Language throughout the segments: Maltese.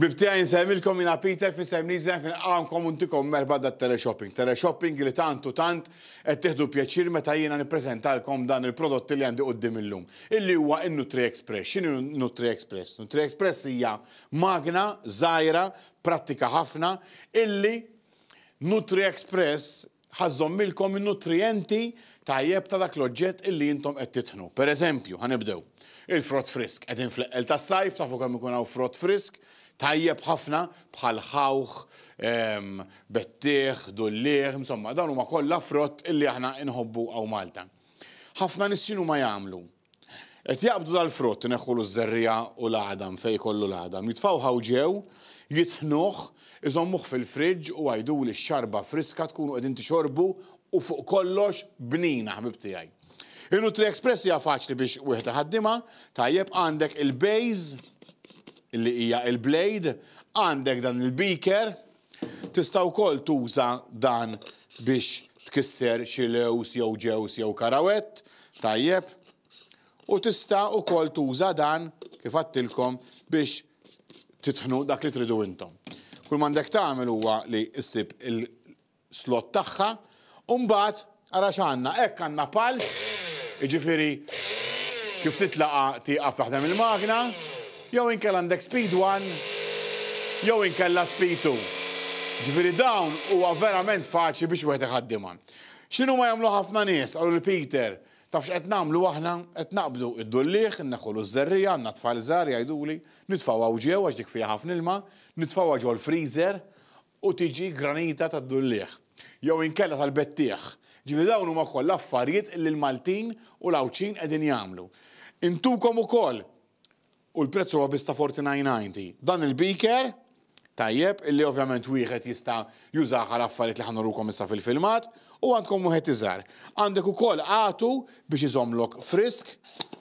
Ħbieb tiegħi insellmilkom jiena Peter f'isem Lee's Life nilqgħukom u ntikom merħba dat-teleshopping. Teleshopping li tant u tant qed tieħdu pjaċir meta jiena nippreżentalkom dan il-prodotti li għandi quddiem illum, illi huwa n-NutriExpress. X'inhi NutriExpress? NutriExpress hija magna żgħira prattika ħafna illi NutriExpress Ħa żżommilkom in-nutrijenti tajjeb ta' dak l-oġġett illi intom qed titħnu. Per eżempju, ħa nibdew, il-frott frisk. Qegħdin fl-eqqel tas-sajf, tafu kemm ikun hawn frott frisk, tajjeb ħafna, bħal ħawħ, bettieħ, dulliegħ, insomma, dawn huma kollha frott illi aħna inħobbu hawn Malta. Ħafna nies x'inhuma jagħmlu? Qed jaqbdu dal-frott, ineħħulu ż-żerriegħa u l-għadam fejn jkollu l-għadam, jitfgħuh hawn ġew, jitħnuh, iżommuh fil-friġġ u għiduli x-xarba friska tkunu qegħdin tixorbu u fuq kollox bnina ħbieb tiegħi. In-NutriExpress hija faċli biex wieħed iħaddimha, tajjeb għandek il-base li hija il-blade, għandek dan il-beaker, Tista' wkoll tuża dan biex tkisser xi lewż jew ġewż jew karawett, tajjeb, u tista' wkoll tuża dan, kif għadtilkom, biex titħnu dak li tridu intom. Kull m'għandek tagħmel huwa li ssib il-slot tagħha u mbagħad Ara x'għandna, hekk għandna pals, jiġifieri kif titlaqa' tieqaf taħdem il-magna, jew inkella għandek speed one jew inkella speed two. Jiġifieri dawn huwa verament faċli biex wieħed iħaddimha. X'inhuma jagħmlu ħafna nies? Qalu lil Peter, taf x'qed nagħmlu aħna? Qed naqbdu d-dulliegħ, inneħħulu ż-żerriegħa, għandna tfal żgħar jgħiduli, nitfgħuha hawn ġew għax dik fiha ħafna ilma, nitfgħuha ġol-freezer u tiġi granita tad-dulliegħ jew inkella tal-bettieħ, ġifieri dawn huma kollha affarijiet li l-Maltin u l-Għawdxin qegħdin jagħmlu. Intukom ukoll, u l-prezz huwa biss ta' 49.90, dan il-beaker, tajjeb, illi ovvjament wieħed jista' jużah għal affarijiet li ħa nurukom issa fil-filmat, u għandkom wieħed iżgħar. Għandek ukoll għatu biex iżommlok frisk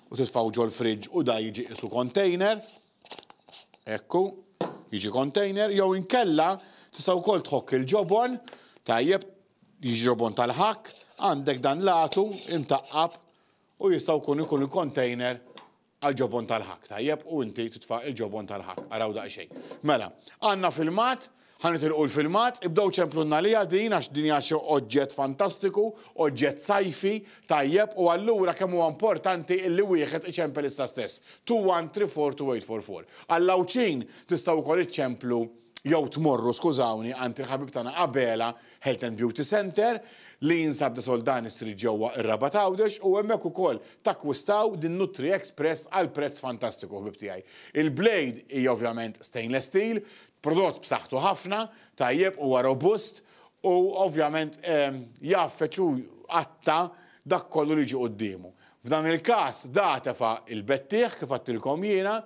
u titfgħu ġol-fridge u da jiġi qisu container. Ekku, jiġi container, jew inkella tista' wkoll tħokk il-ġobon, tajjeb, jiġi ġobon tal-ħakk, għandek dan l-għatu imtaqqab u jista' jkun ikun il-container għal ġobon tal-ħakk, tajjeb, u inti titfa' il-ġobon tal-ħakk, araw daqsxejn. Mela, għandna filmat Ħa nitilqu l-filmat, ibdew ċemplulna għaliha din għax din hija xi oġġett fantastiku, oġġett sajfi, tajjeb u allura kemm huwa importanti illi wieħed iċempel issa stess. Two one three four two eight four four. Għall-Għawdxin tistgħu wkoll iċċemplu jew tmorru, skużawni, għand il-ħabib tagħna Abela Health and Beauty Centre li jinsab De Soldani Street ġewwa ir-Rabat Għawdex u hemmhekk ukoll takkwistaw din Nutri Express għal prezz fantastiku ħbieb tiegħi. Il-blade hija ovvjament stainless steel, Prodott b'saħħtu ħafna, tajjeb, huwa robust u ovvjament jgħaffeġ u jqatta' dak kollu li jiġi quddiemu. F'dan il-każ da tefa' il-bettieħ kif għadtilkom jiena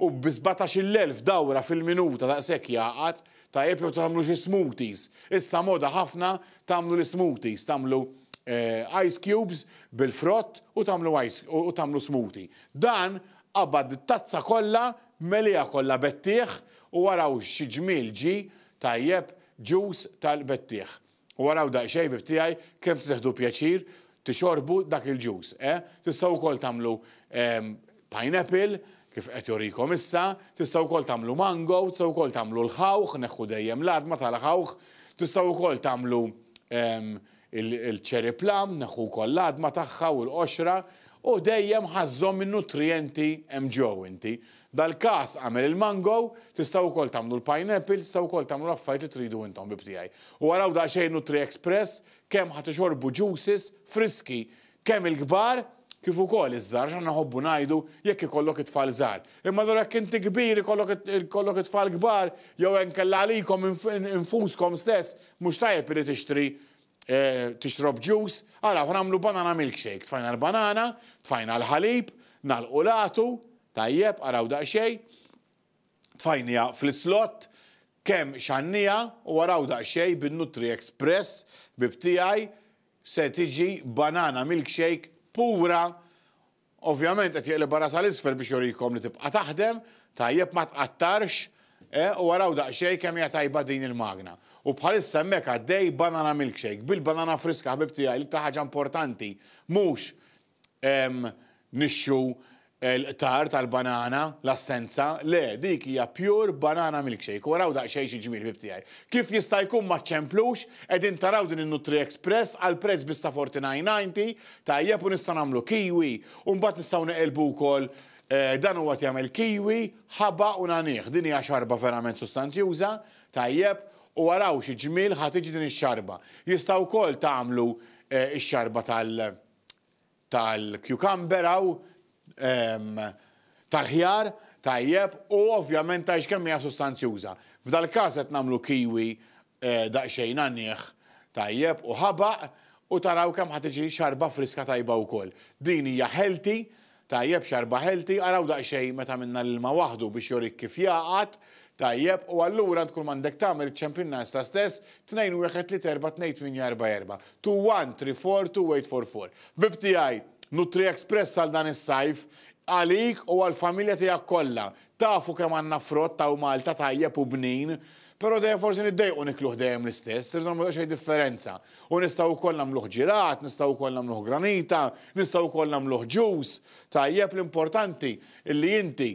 u bi sbatax-il elf dawra fil-minuta daqshekk jgħaqad, tajjeb jew tagħmlu xi smoothies. Issa moda ħafna tagħmlu l-ismoothies, tagħmlu ice cubes bil-frott u tagħmlu ice u tagħmlu smoothie. Dan Qabad it-tazza kollha, meliha kollha bettieħ u araw xi ġmiel ġie, tajjeb, ġus tal-bettieħ. U araw daqsxejn, ħbieb tiegħi, kemm se teħdu pjaċir tixorbu dak il-ġus, eh? Tistgħu wkoll tagħmlu pineapple, kif qed jorikom issa, tistgħu wkoll tagħmlu mango, tistgħu wkoll tagħmlu l-ħawħ, neħħu dejjem l-għadma tal-ħawħ, tistgħu wkoll tagħmlu Il-cherry plum neħu wkoll l-għadma tagħha u l-qoxra u dejjem ħażżhom min-nutrijenti hemm ġew inti. Dal-każ għamel il-mango, tistgħu wkoll tagħmlu l-pineapple, tistgħu wkoll tagħmlu l-affarijiet li tridu int ħbib tiegħi. U araw daqsxejn Nutri-Express kemm ħa tixorbu juices friski Kemm il-kbar kif ukoll iż-żgħar x'għandna nħobbu ngħidu jekk ikollok it-tfal żgħar. Imma allura jekk inti kbir ikollok it-tfal kbar jew inkella għalikom infuskom stess mhux tajjeb li tixtri tixrob ġus, ara aħna nagħmlu banana milkshake, tfajna l-banana, tfajna l-ħalib, nagħlqu l-għatu, tajjeb, araw daqsxejn, tfajniha fl-islott, kemm xannija u araw daqsxejn bin-Nutri Express bib tiegħi Se tiġi banana milkshake pura. Ovvjament qed jeqlibha rasha 'l isfel biex jurikom li tibqa' taħdem, tajjeb ma tqattarx, eh, u araw daqsxejn kemm hija tajba din il-magna. U bħalissa hemmhekk għaddej banana milkshake bil-banana friska ħbib tiegħi l-iktar ħaġa importanti mhux nixxu l-qtar tal-banana, l-assenza, le, dik hija pure banana milkshake. U araw daqsxejn xi ġmiel ħbieb tiegħi. Kif jista' jkun ma ċċemplux, qegħdin taraw din in-Nutri Express għal prezz biss ta' 49.90, tajjeb u nista' nagħmlu kiwi, u mbagħad nistgħu neqilbu wkoll dan huwa qed jagħmel kiwi, ħaba u nagħnih. Din hija xarba verament sustanzjuża, tajjeb, u araw xi ġmiel ħa tiġi din ix-xarba. Jista' wkoll tagħmlu x-xarba tal- tal-cucumber hawn, tal-ħjar, tajjeb, u ovvjament tgħidx kemm hija sustanzjuża. F'dal-każ qed nagħmlu kiwi daqsxejn għaniħ, tajjeb, u ħabaq, u taraw kemm ħa tiġi xarba friska tajba wkoll. Din hija healthy, Tajjeb xarba healthy, araw daqsxejn meta minna l-ilma waħdu biex jorik kif jgħaqad, tajjeb, u allura int kull m'għandek tagħmel iċċempilna issa stess, tnejn wieħed tliet erba' tnejn tmienja erba' erba', two one three four two eight four four. Ħbib tiegħi, Nutriexpress għal dan is-sajf, għalik u għall-familja tiegħek kollha, Tafu kemm għandna frott hawn Malta tajjeb u bnin, però dejjem forsi niddejqu nikluh dejjem l-istess, irridu nagħmlu daqsxejn differenza. U nistgħu wkoll nagħmluh ġilat, nistgħu wkoll nagħmluh granita, nistgħu wkoll nagħmluh ġus. Tajjeb, l-importanti li inti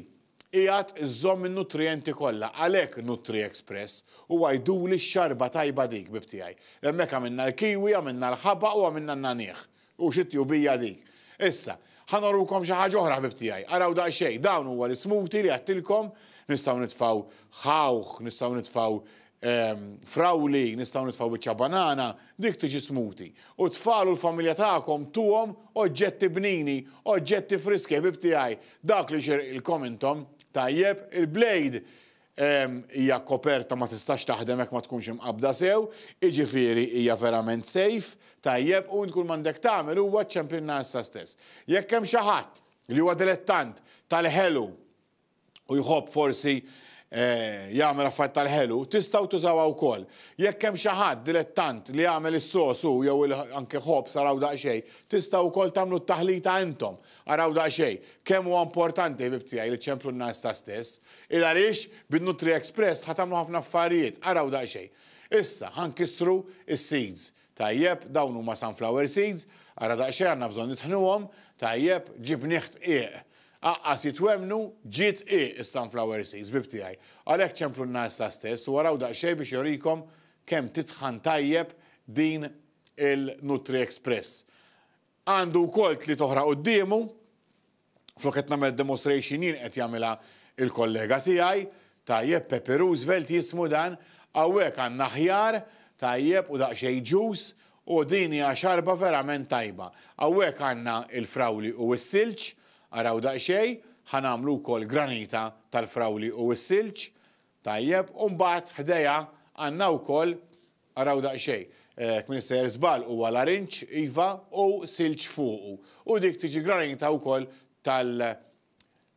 qiegħed iżżomm in-nutrijenti kollha, għalhekk NutriExpress huwa jduli x-xarba tajba dik, bib tiegħi. Hemmhekk għamilna l-kiwi, għamilna l-ħabaq u għamilna n-nagħniegħ. U xi tjubija dik! Issa, ħa norukom xi ħaġa oħra ħbieb tiegħi. Araw daqsxejn, dawn huwa l-ismuti li għedtilkom, nistgħu nitfgħu ħawħ, nistgħu nitfgħu frawli, nistgħu nitfgħu biċċa banana, dik tiġi smuti. U t-tfal u l-familja tagħkom tuhom oġġetti bnini, oġġetti friski ħbieb tiegħi, dak li jxirqilkom intom. Tajjeb, il-blade hija koperta ma tistax taħdem jekk ma tkunx imqabbda sew, jiġifieri hija verament safe, tajjeb, u int kull m'għandek tagħmel huwa ċċempilna issa stess. Jekk hemm xi ħadd li huwa dilettant tal-ħelu u jħobb forsi jagħmel affarijiet tal-ħelu, tistgħu tużawha wkoll. Jekk hemm xi ħadd dilettant li jagħmel is-sos hu jew anke ħobż araw daqsxejn, tistgħu wkoll tagħmlu t-taħlita intom. Araw daqsxejn. Kemm huwa importanti, ħbieb tiegħi, li ċċemplulna issa stess. Il-għarix bin-Nutri Express ħa tagħmlu ħafna affarijiet, araw daqsxejn. Issa, ħa nkissru s-seeds. Tajjeb, dawn huma sunflower seeds, ara daqsxejn għandna bżonn nitħnuhom, tajjeb, ġib nieħ dqiq. Aqqas jitwemmnu, ġie dqiq is-sunflower seeds, ħbib tiegħi. Għalhekk ċemplulna issa stess u araw daqsxejn biex jorikom kemm titħan tajjeb din il-Nutri Express. Għandu wkoll tliet oħra quddiemu. Flok qed nagħmel demonstration jien qed jagħmilha l-kollega tiegħi. Tajjeb, Pepe Roosevelt jismu dan. Hawnhekk għandna ħjar, tajjeb, u daqsxejn ġus, u din hija xarba verament tajba. Hawnhekk għandna l-frawli u s-silġ, araw daqsxejn, ħa nagħmlu wkoll granita tal-frawli u s-silġ. Tajjeb, u mbagħad ħdejha għandna wkoll Araw daqsxejn. Hekk minn sejjer żball huwa larinġ, iva, u silġ fuqu. U dik tiġi granita wkoll tal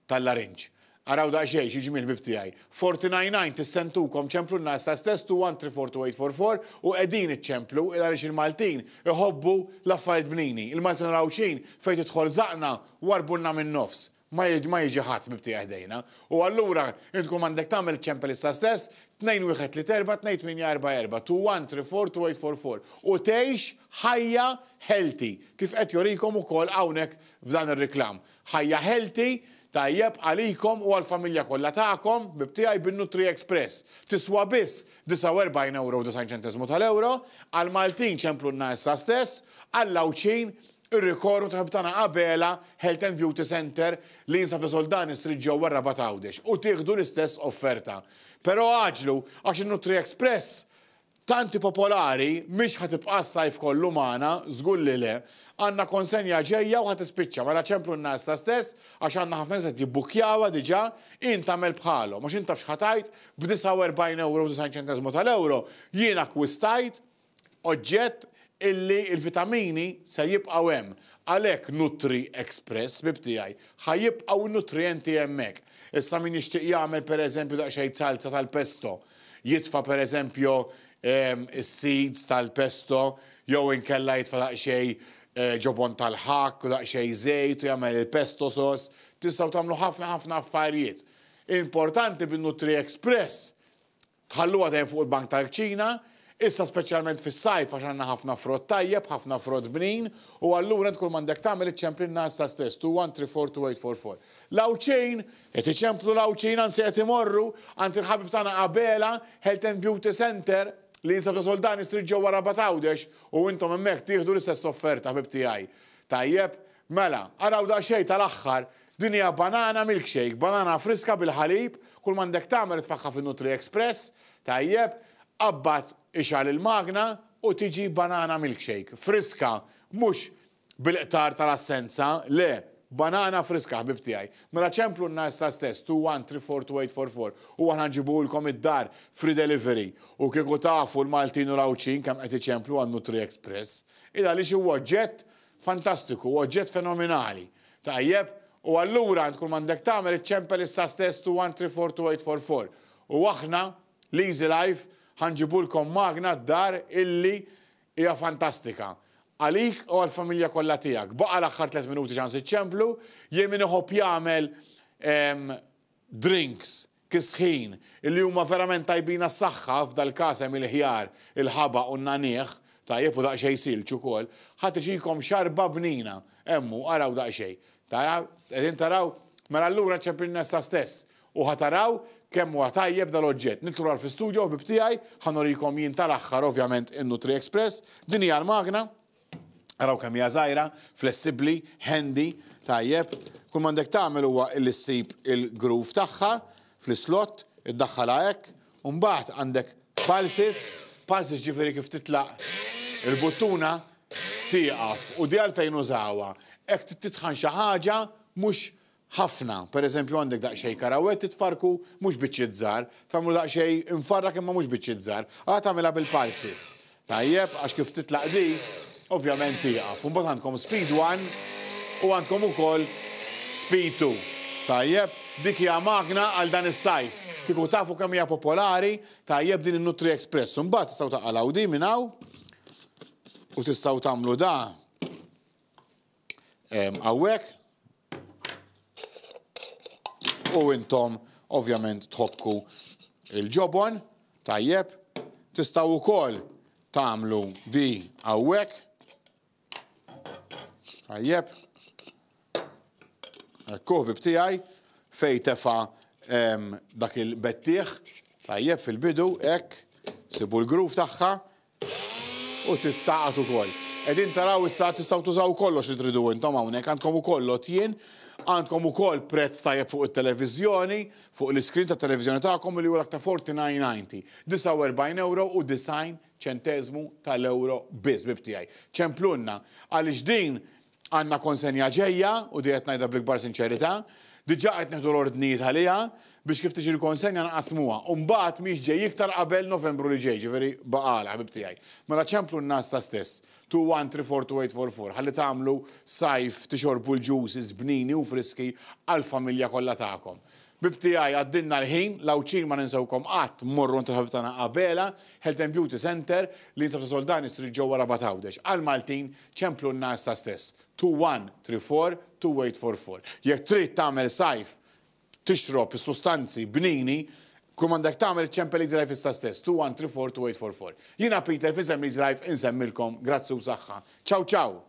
tal-larinġ. Araw daqsxejn xi ġmiel ħbieb tiegħi. Forty nine nine tissentukom ċemplu n-nas ta' stess two one three four two eight four four u qegħdin iċċemplu il għaliex il-Maltin iħobbu l-affarijiet bnini. Il-Maltin raw x'ħin fejn tidħol żaqna warbulna min-nofs. ma jiġi ħadd mibtieha ħdejna, u allura int tkun m'għandek tagħmel iċ-ċempelista stess, tnejn wieħed tliet erbgħa, tnejn tmienja erbgħa erbgħa, two one three four two eight four four, u tgħix ħajja healthy, kif qed jurikom ukoll hawnhekk f'dan ir-reklam. Ħajja healthy, tajjeb għalikom u għall-familja kollha tagħkom, ħbieb tiegħi, bin-NutriExpress. Tiswa biss 49 ewro u 90 ċenteżmu tal-ewro, għall-Maltin ċemplunna issa stess, għall-Għawdxin Ir-rikorrent u ħabib tagħna Abela Health and Beauty Centre li jinsab fi Soldani Street ġewwa r-Rabat Għawdex u tieħdu l-istess offerta. Però għaġġlu għax in-Nutri Express tant hi popolari mhix ħa tibqa' s-sajf kollu magħna, żgur li le. Għandna konsenja ġejja u ħa tispiċċa, mela ċemplunna issa stess għax għandna ħafna nies qed jibbukkjawha diġà, int agħmel bħalhom għax int taf x'ħa tgħid, b'49 ewro u 90 ċenteżmu tal-ewro jien akkwistajt oġġett illi l-vitamini se jibqgħu hemm. Għalhekk Nutri Express, ħbib tiegħi, ħa jibqgħu n-nutrijenti hemmhekk. Issa min jixtieq jagħmel pereżempju daqsxejn salza tal-pesto, jitfa' pereżempju s-seeds tal-pesto jew inkella jitfa' daqsxejn ġobon tal-ħakk u daqsxejn żejt u jagħmel il-pesto sauce, tistgħu tagħmlu ħafna ħafna affarijiet. Importanti bin-Nutri Express Tħalluha tgħin fuq il-bank tal-kċina, issa speċjalment fis-sajf għax għandna ħafna frott tajjeb, ħafna frott bnin, u allura int kull m'għandek tagħmel iċċemplinha issa stess, two one three four two eight four four. L-Għawdxin! Qed iċemplu l-Għawdxin anzi qed imorru għand il-ħabib tagħna Abela Health and Beauty Centre li jinsab ta' Soldani Street ġewwa Rabat Għawdex u intom hemmhekk tieħdu l-istess offerta ħbib tiegħi. Tajjeb? Mela, araw daqsxejn tal-aħħar Din hija banana milkshake, banana friska bil-ħalib, kull m'għandek tagħmel tfaħħa fin-Nutri Express, tajjeb, qabbad ixgħal il-magna u tiġi banana milkshake, friska, mhux bil-qtar tal-assenza, le, banana friska ħbieb tiegħi. Mela ċemplunna issa stess 2134284 u aħna nġibuhulkom id-dar free delivery u kieku tafu l-Maltin u l-Għawdxin kemm qed iċemplu għan-Nutri Express, il-għaliex huwa oġġett Fantastiku, oġġett fenomenali. Tajjeb, u allura int kulma għandek tagħmel iċċempel issa stess 2134844 u aħna, l-Easy Life, ħa nġibulkom magna d-dar illi hija fantastika. Għalik u għall-familja kollha tiegħek. Baqa' l-aħħar tliet minuti ċans iċċemplu, jien min iħobb jagħmel ehm, drinks, kisħin, li huma verament tajbin għas-saħħa, f'dal-każ hemm il-ħjar, il-ħaba u n-nagħniegħ, tajjeb u daqsxejn silġ ukoll, ħa tiġikom xarba bnina. Hemm hu, araw daqsxejn. Taraw? Qegħdin taraw? Mela allura ċempilna issa stess u ħa taraw kemm huwa tajjeb dal-oġġett. Nidħlu lura fl-istudjo, ħbieb tiegħi, ħa nurikom jien tal-aħħar ovvjament in-NutriExpress. Din hija l-magna. Araw kemm hija żgħira, flessibbli, handy, tajjeb. Kull ma għandek tagħmel huwa illi ssib il-groove tagħha fl-islott, iddaħħalha hekk, u mbagħad għandek pulses, pulses ġifieri kif titlaq il-buttuna tieqaf u di għalfejn użawha. Hekk titħan xi ħaġa mhux Ħafna. Per eżempju għandek daqsxejn karawett titfarrku mhux biċċiet żgħar, tagħmlu daqsxejn imfarrak imma mhux biċċiet żgħar. Ara tagħmilha bil-pulses. Tajjeb, għax kif titlaq di, ovvjament tieqaf. Imbagħad għandkom speed one u għandkom ukoll speed two. Tajjeb, dik hija magna għal dan is-sajf. Kieku tafu kemm hija popolari, tajjeb din in-Nutri Express. Imbagħad tistgħu taqalgħu di minn hawn u tistgħu tagħmlu da hawnhekk. U intom ovvjament tħokku il-ġobon, tajjeb, tistgħu wkoll tagħmlu di hawnhekk. Tajjeb. Ekkuh bib tiegħi fej tefa' dak il-bettieħ, tajjeb fil-bidu, hekk, sibu l-groove tagħha, u tiftaqat ukoll. Qegħdin taraw issa tistgħu tużaw kollox li tridu intom hawnhekk, għandkom ukoll lotjien, għandkom ukoll prezz tajjeb fuq it-televiżjoni, fuq l-iskrin tat-televiżjoni tagħkom li huwa ta' forty nine ninety, 49 ewro u 90 ċenteżmu tal-ewro biss, bib tiegħi. Ċemplulna għaliex din Għandna konsenja ġejja, u di qed ngħidha bl-ikbar sinċerità. Diġà qed nieħdu l-ordnijiet għaliha biex kif tiġi l-konsenja nqassmuha. U mbagħad mhix ġej iktar qabel Novembru li ġej, ġifieri Baqala, ħbib tiegħi. Mela ċemplunna issa stess, 2134844, ħalli tagħmlu Sajf, tixorbu l-juices bnini u friski għall-familja kollha tagħkom. Ħbieb tiegħi għaddilna l-ħin, l-Għawdxin ma ninsewkom qatt, mmorru għand il-ħabib tagħna Abela, Health and Beauty Centre, li jinsab ta' Soldani Street ġewwa Rabat Għawdex. Għall-Maltin, ċemplulna issa stess. 2134-2844. Jekk trid tagħmel sajf, tixrob is-sustanzi bnini, kull m'għandek tagħmel iċċempel Easy Life issa stess, 2134-2844. Jiena Peter f'isem l-Easy Life insemmilkom grazzi u saħħa. Ciao ciao!